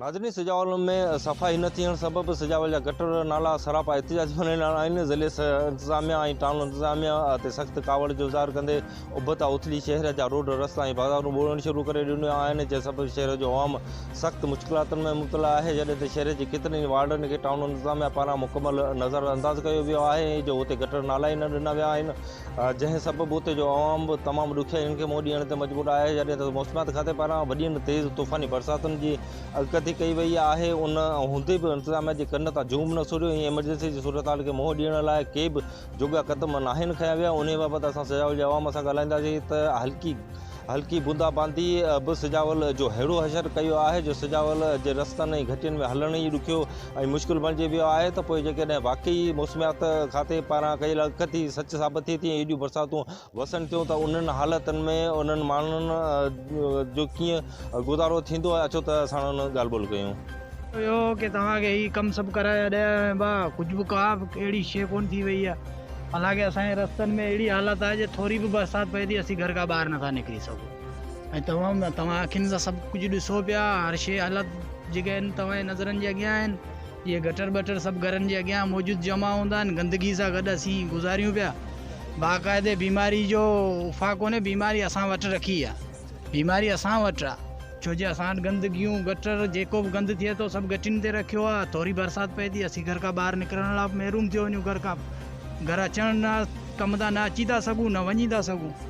ناظرين سجاول ۾ صفائي نه ٿيڻ سبب سجاول جا گٽر نالا سراپا احتجاجي بڻيل آهن ضلعي انتظاميا ۽ ٽائون انتظاميا تي سخت ڪاوڙ جو اظهار ڪندي ابتا اوٿلي شهر جا روڊ رستا ۽ بازارون ٻوڙڻ شروع ڪري ڏنيون آهن جنهن سبب شهر جو عوام سخت مشڪلاتن ۾ مبتلا آهي جڏهن ته شهر جي ڪيترن ئي وارڊن کي ٽائون انتظاميا پاران مڪمل نظر انداز ڪيو ويو آهي ائين جو اتي گٽر نالا ئي نه ڏنا ويا آهن جنهن سبب اتي جو عوام به تمام ڏکيائين کي منهن ڏيڻ تي مجبور آهي جڏهن ته موسميات کاتي پاران وڏين تيز طوفاني برساتن جي اڳڪٿي ڪئي وئي آهي ان هوندي به انتظاميا جي ڪن تان جوم نه سريو ۽ ايمرجنسي جي صورتحال کي منهن ڏيڻ لاء ڪي به جوڳا قدم ناهن کنيا ويا انهي بابت اسان سجاول جي عوام سان ڳالهائينداسين ته هلڪي هلڪي بوندا باندي به سجاول جو ههڙو حشر ڪيو آهي جو سجاول جي رستن ۽ گهٽين ۾ هلڻ ئي ڏکيو ۽ مشڪل بڻجي ويو آهي ته پوء جيڪڏهن واقعي موسميات کاتي پاران ڪيل اڳڪٿي سچ ثابت ٿئي ٿي ۽ ايڏيون برساتون وسن ٿيون ته انهن حالتن ۾ انهن ماڻهن جو ڪيئن گذارو ٿيندو آهي اچو ته اسان ان ڳالهه ٻولهه ڪيون. اهو ڪي توهان کي هي ڪم سڀ ڪرائي اڏيا ويا آهن ڀا ڪجهه به ڪا به اهڙي شي ڪونه ٿي وئي آهي حالانڪه اسان جي رستن ۾ اهڙي حالت آهي جي ٿوري به برسات پئي ٿي اسين گهر کان ٻاهر نٿا نڪري سگهون ۽ توهان توهان اکين سان سڀ ڪجهه ڏسو پيا هر شي حالت جيڪي آهن توهان جي نظرن جي اڳيان آهن اهي گٽر ٻٽر سڀ گهرن جي اڳيان موجود جمع هوندا آهن گندگي سان گڏ اسين گذاريون پيا باقاعدي بيماري جو افا ڪونهي بيماري اسان وٽ رکي آ بيماري اسان وٽ آ ڇو جي اسان وٽ گندگيون گٽر جيڪو به گند ٿئي ٿو سڀ گٽين تي رکيو آ ٿوري برسات پئي ٿي اسين گهر کان ٻاهر نڪرڻ لا محروم ٿيو وڃون گهر کان گهر اچڻ لا ڪم تان نه اچي ٿا سگهون نه وڃي ٿا سگهون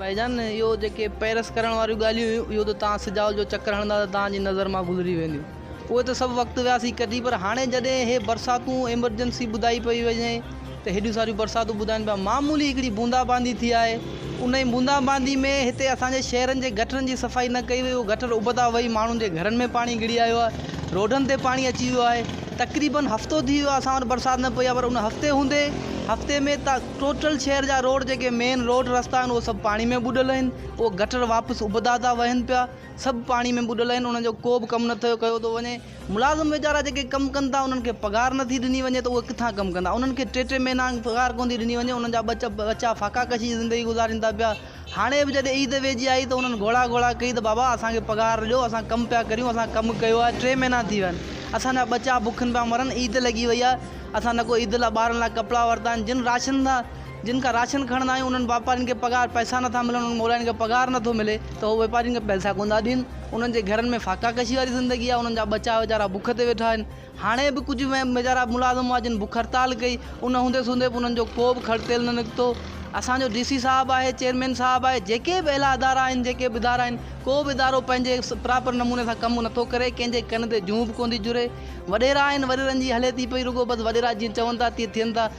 ڀائي جان اهو جيڪي پيرس ڪرڻ واريون ڳالهيون هيون اهو ته توهان سجاول جو چڪر هڻندا ته توهان جي نظر مان گذري وينديون اهي ته سڀ وقت ويا سي ڪٽي پر هاڻي جڏهن هي برساتون ايمرجنسي ٻڌائي پئي وڃي ته هيڏيون ساريون برساتون ٻڌائن پيا معمولي هڪڙي بوندا باندي ٿي آهي ان ئي بوندا باندي ۾ هتي اسان جي شهرن جي گٽرن جي صفائي نه ڪئي وئي اهو گٽر ابتا وهي ماڻهن جي گهرن ۾ پاڻي گهڙي آيو آهي روڊن تي پاڻي اچي ويو آهي تقريبن هفتو ٿي ويو آهي اسان وٽ برسات نه پئي آهي پر ان هفتي هوندي هفتي ۾ ٽوٽل شهر جا روڊ جيڪي مين روڊ رستا آهن اهي سڀ پاڻي ۾ ٻڏل آهن اهي گٽر واپس ابدا ٿا وهن پيا سڀ پاڻي ۾ ٻڏل آهن انهن جو ڪو به ڪم نٿو ڪيو ٿو وڃي ملازم ويچارا جيڪي ڪم ڪن ٿا انهن کي پگهار نٿي ڏني وڃي ته اهي ڪٿان ڪم ڪندا انهن کي ٽي ٽي مهينا پگهار ڪونه ٿي ڏني وڃي انهن جا ٻچا ٻچا فاڪا ڪشي جي زندگي گذارين ٿا پيا هاڻي به جڏهن عيد ويجهي آئي ته هنن گهوڙا گهوڙا ڪئي ته بابا اسان کي پگهار ڏيو اسان ڪم پيا ڪريون اسان ڪم ڪيو آهي ٽي مهينا ٿي ويا آهن اسان جا ٻچا بکن پيا مرن عيد لڳي وئي آهي اسان نه ڪو عيد لاء ٻارن لاء ڪپڙا ورتا آهن جن راشن سان جن کان راشن کڻندا آهيون انهن واپارين کي پگهار پئسا نٿا ملن انهن مولائين کي پگهار نٿو ملي ته هو واپارين کي پئسا ڪونه ٿا ڏين انهن جي گهرن ۾ فاقا ڪشي واري زندگي آهي انهن جا ٻچا ويچارا بک تي ويٺا آهن هاڻي به ڪجهه ويچارا ملازم هئا جن بک هڙتال ڪئي ان هوندي سوندي به انهن جو ڪو به کڙ تيل نه نڪتو اسان جو ڊي سي صاحب آهي چيئرمين صاحب آهي جيڪي به اعليٰ ادارا آهن جيڪي به ادارا آهن ڪو به ادارو پنهنجي پراپر نموني سان ڪم نٿو ڪري ڪنهن جي ڪن تي جونء به ڪونه ٿي جڙي وڏيرا آهن وڏيرن جي هلي ٿي پئي رڳو بس وڏيرا جيئن چون ٿا تيئن ٿين ٿا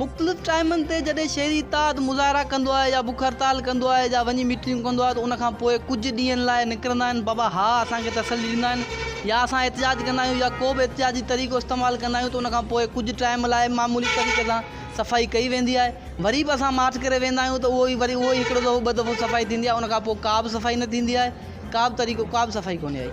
مختلف ٽائمن تي جڏهن شهري اتحاد مظاهرا ڪندو آهي يا بک هڙتال ڪندو آهي يا وڃي ميٽنگون ڪندو آهي ته ان کان پوء ڪجهه ڏينهن لاء نڪرندا آهن بابا ها اسان کي تسلي ڏيندا آهن يا اسان احتجاج ڪندا آهيون يا ڪو به احتجاجي طريقو استعمال ڪندا آهيون ته ان کان پوء ڪجهه ٽائم لاء معمولي طريقي سان صفائي ڪئي ويندي آهي وري به اسان مارچ ڪري ويندا آهيون ته اهو ئي وري اهو ئي هڪڙو دفعو ٻه دفعو صفائي ٿيندي آهي ان کان پوء ڪا به صفائي نه ٿيندي آهي ڪا به طريقو ڪا به صفائي ڪونهي آئي.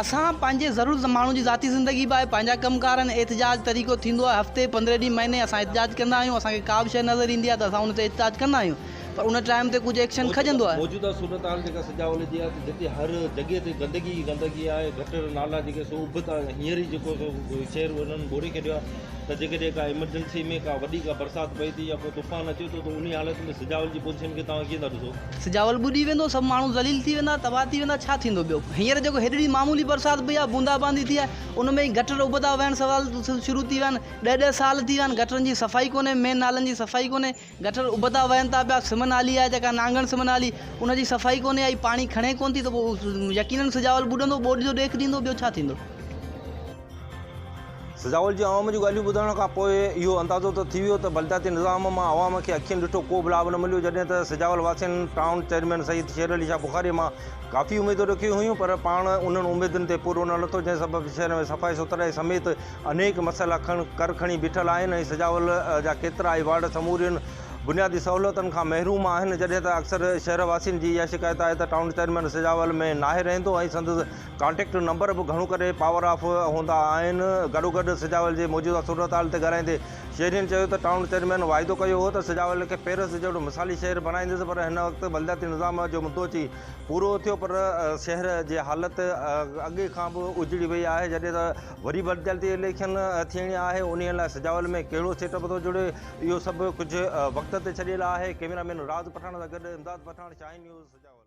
اسان پنهنجي ضرورت ماڻهو جي ذاتي زندگي باء پنهنجا ڪم ڪار آهن احتجاج طريقو ٿيندو آهي هفتي پندرهن ڏينهن مهيني اسان احتجاج ڪندا آهيون اسان کي ڪا به شيء نظر ايندي آهي ته اسان ان تي احتجاج ڪندا آهيون پر ان ٽائيم تي ڪجهه ايڪشن کڄندو آهي. موجوده صورتحال جيڪا سجاول جي آهي ته جتي هر جڳهه تي گندگي ئي گندگي آهي گٽر نالا جيڪي سو اڀ تان هينئر ئي جيڪو سو شهر انهن ٻوڙي ڇڏيو آهي ته جيڪڏهن ڪا ايمرجنسي ۾ ڪا وڏي ڪا برسات پئي ٿي يا ڪو طوفان اچي ٿو ته انهي حالت ۾ سجاول جي پوزيشن کي توهان ڪيئن ٿا ڏسو سجاول ٻڏي ويندو، سڀ ماڻهو ذليل ٿي ويندا، تباهه ٿي ويندا، ڇا ٿيندو ٻيو؟ هينئر جيڪو هيڏڙي معمولي برسات پئي آهي، بوندا باندي ٿي آهي، ان ۾ ئي گٽر ابدا وهڻ سوال شروع ٿي ويا آهن، ڏهه ڏهه سال ٿي ويا آهن، گٽرن جي صفائي ڪونهي، مين نالن جي صفائي ڪونهي، گٽر ابدا وهن ٿا پيا، سم نالي آهي جيڪا نانگڻ سم نالي، ان جي صفائي ڪونهي ۽ پاڻي کڻي ڪونه ٿي ته پوء يقينن سجاول ٻڏندو، ٻوڏ جو ڏيک ڏيندو، ٻيو ڇا ٿيندو؟ سجاول جي عوام جون ڳالهيون ٻڌڻ کان پوء اهو اندازو ته ٿي ويو ته بلدياتي نظام مان عوام کي اکين ڏٺو ڪو به لاڀ نه مليو جڏهن ته سجاول واسين ٽائون چيئرمين سيد شير علي شاهه بخاري مان ڪافي اميدون رکيون هيون پر پاڻ انهن اميدن تي پورو نه لٿو جنهن سبب شهر ۾ صفائي سٿرائي سميت انيڪ مسئلا ڪر کڻي بيٺل آهن ۽ سجاول جا ڪيترا ئي وارڊ سمورين بنيادي سهولتن کان محروم آهن جڏهن ته اڪثر شهر واسين جي اها شڪايت آهي ته ٽائون چيئرمين سجاول ۾ ناهي رهندو ۽ سندس ڪانٽيڪٽ نمبر به گهڻو ڪري پاور آف هوندا آهن. گڏوگڏ سجاول جي موجوده صورتحال تي ڳالهائيندي شهرين چيو ته ٽائون چيئرمين واعدو ڪيو هو ته سجاول کي پيرس جهڙو مثالي شهر بڻائيندس پر هن وقت بلدياتي نظام جو مدو اچي پورو ٿيو پر شهر جي حالت اڳي کان به اجڙي وئي آهي جڏهن ته وري بلدياتي اليڪشن ٿيڻي آهي انهي لاء سجاول ۾ ڪهڙو سيٽ اپ ٿو جڙي اهو سڀ ڪجهه وقت تي ڇڏيل آهي ڪيميرا مين راز پٺاڻ سان گڏ امداد پٺاڻ شاهين نيوز سجاول.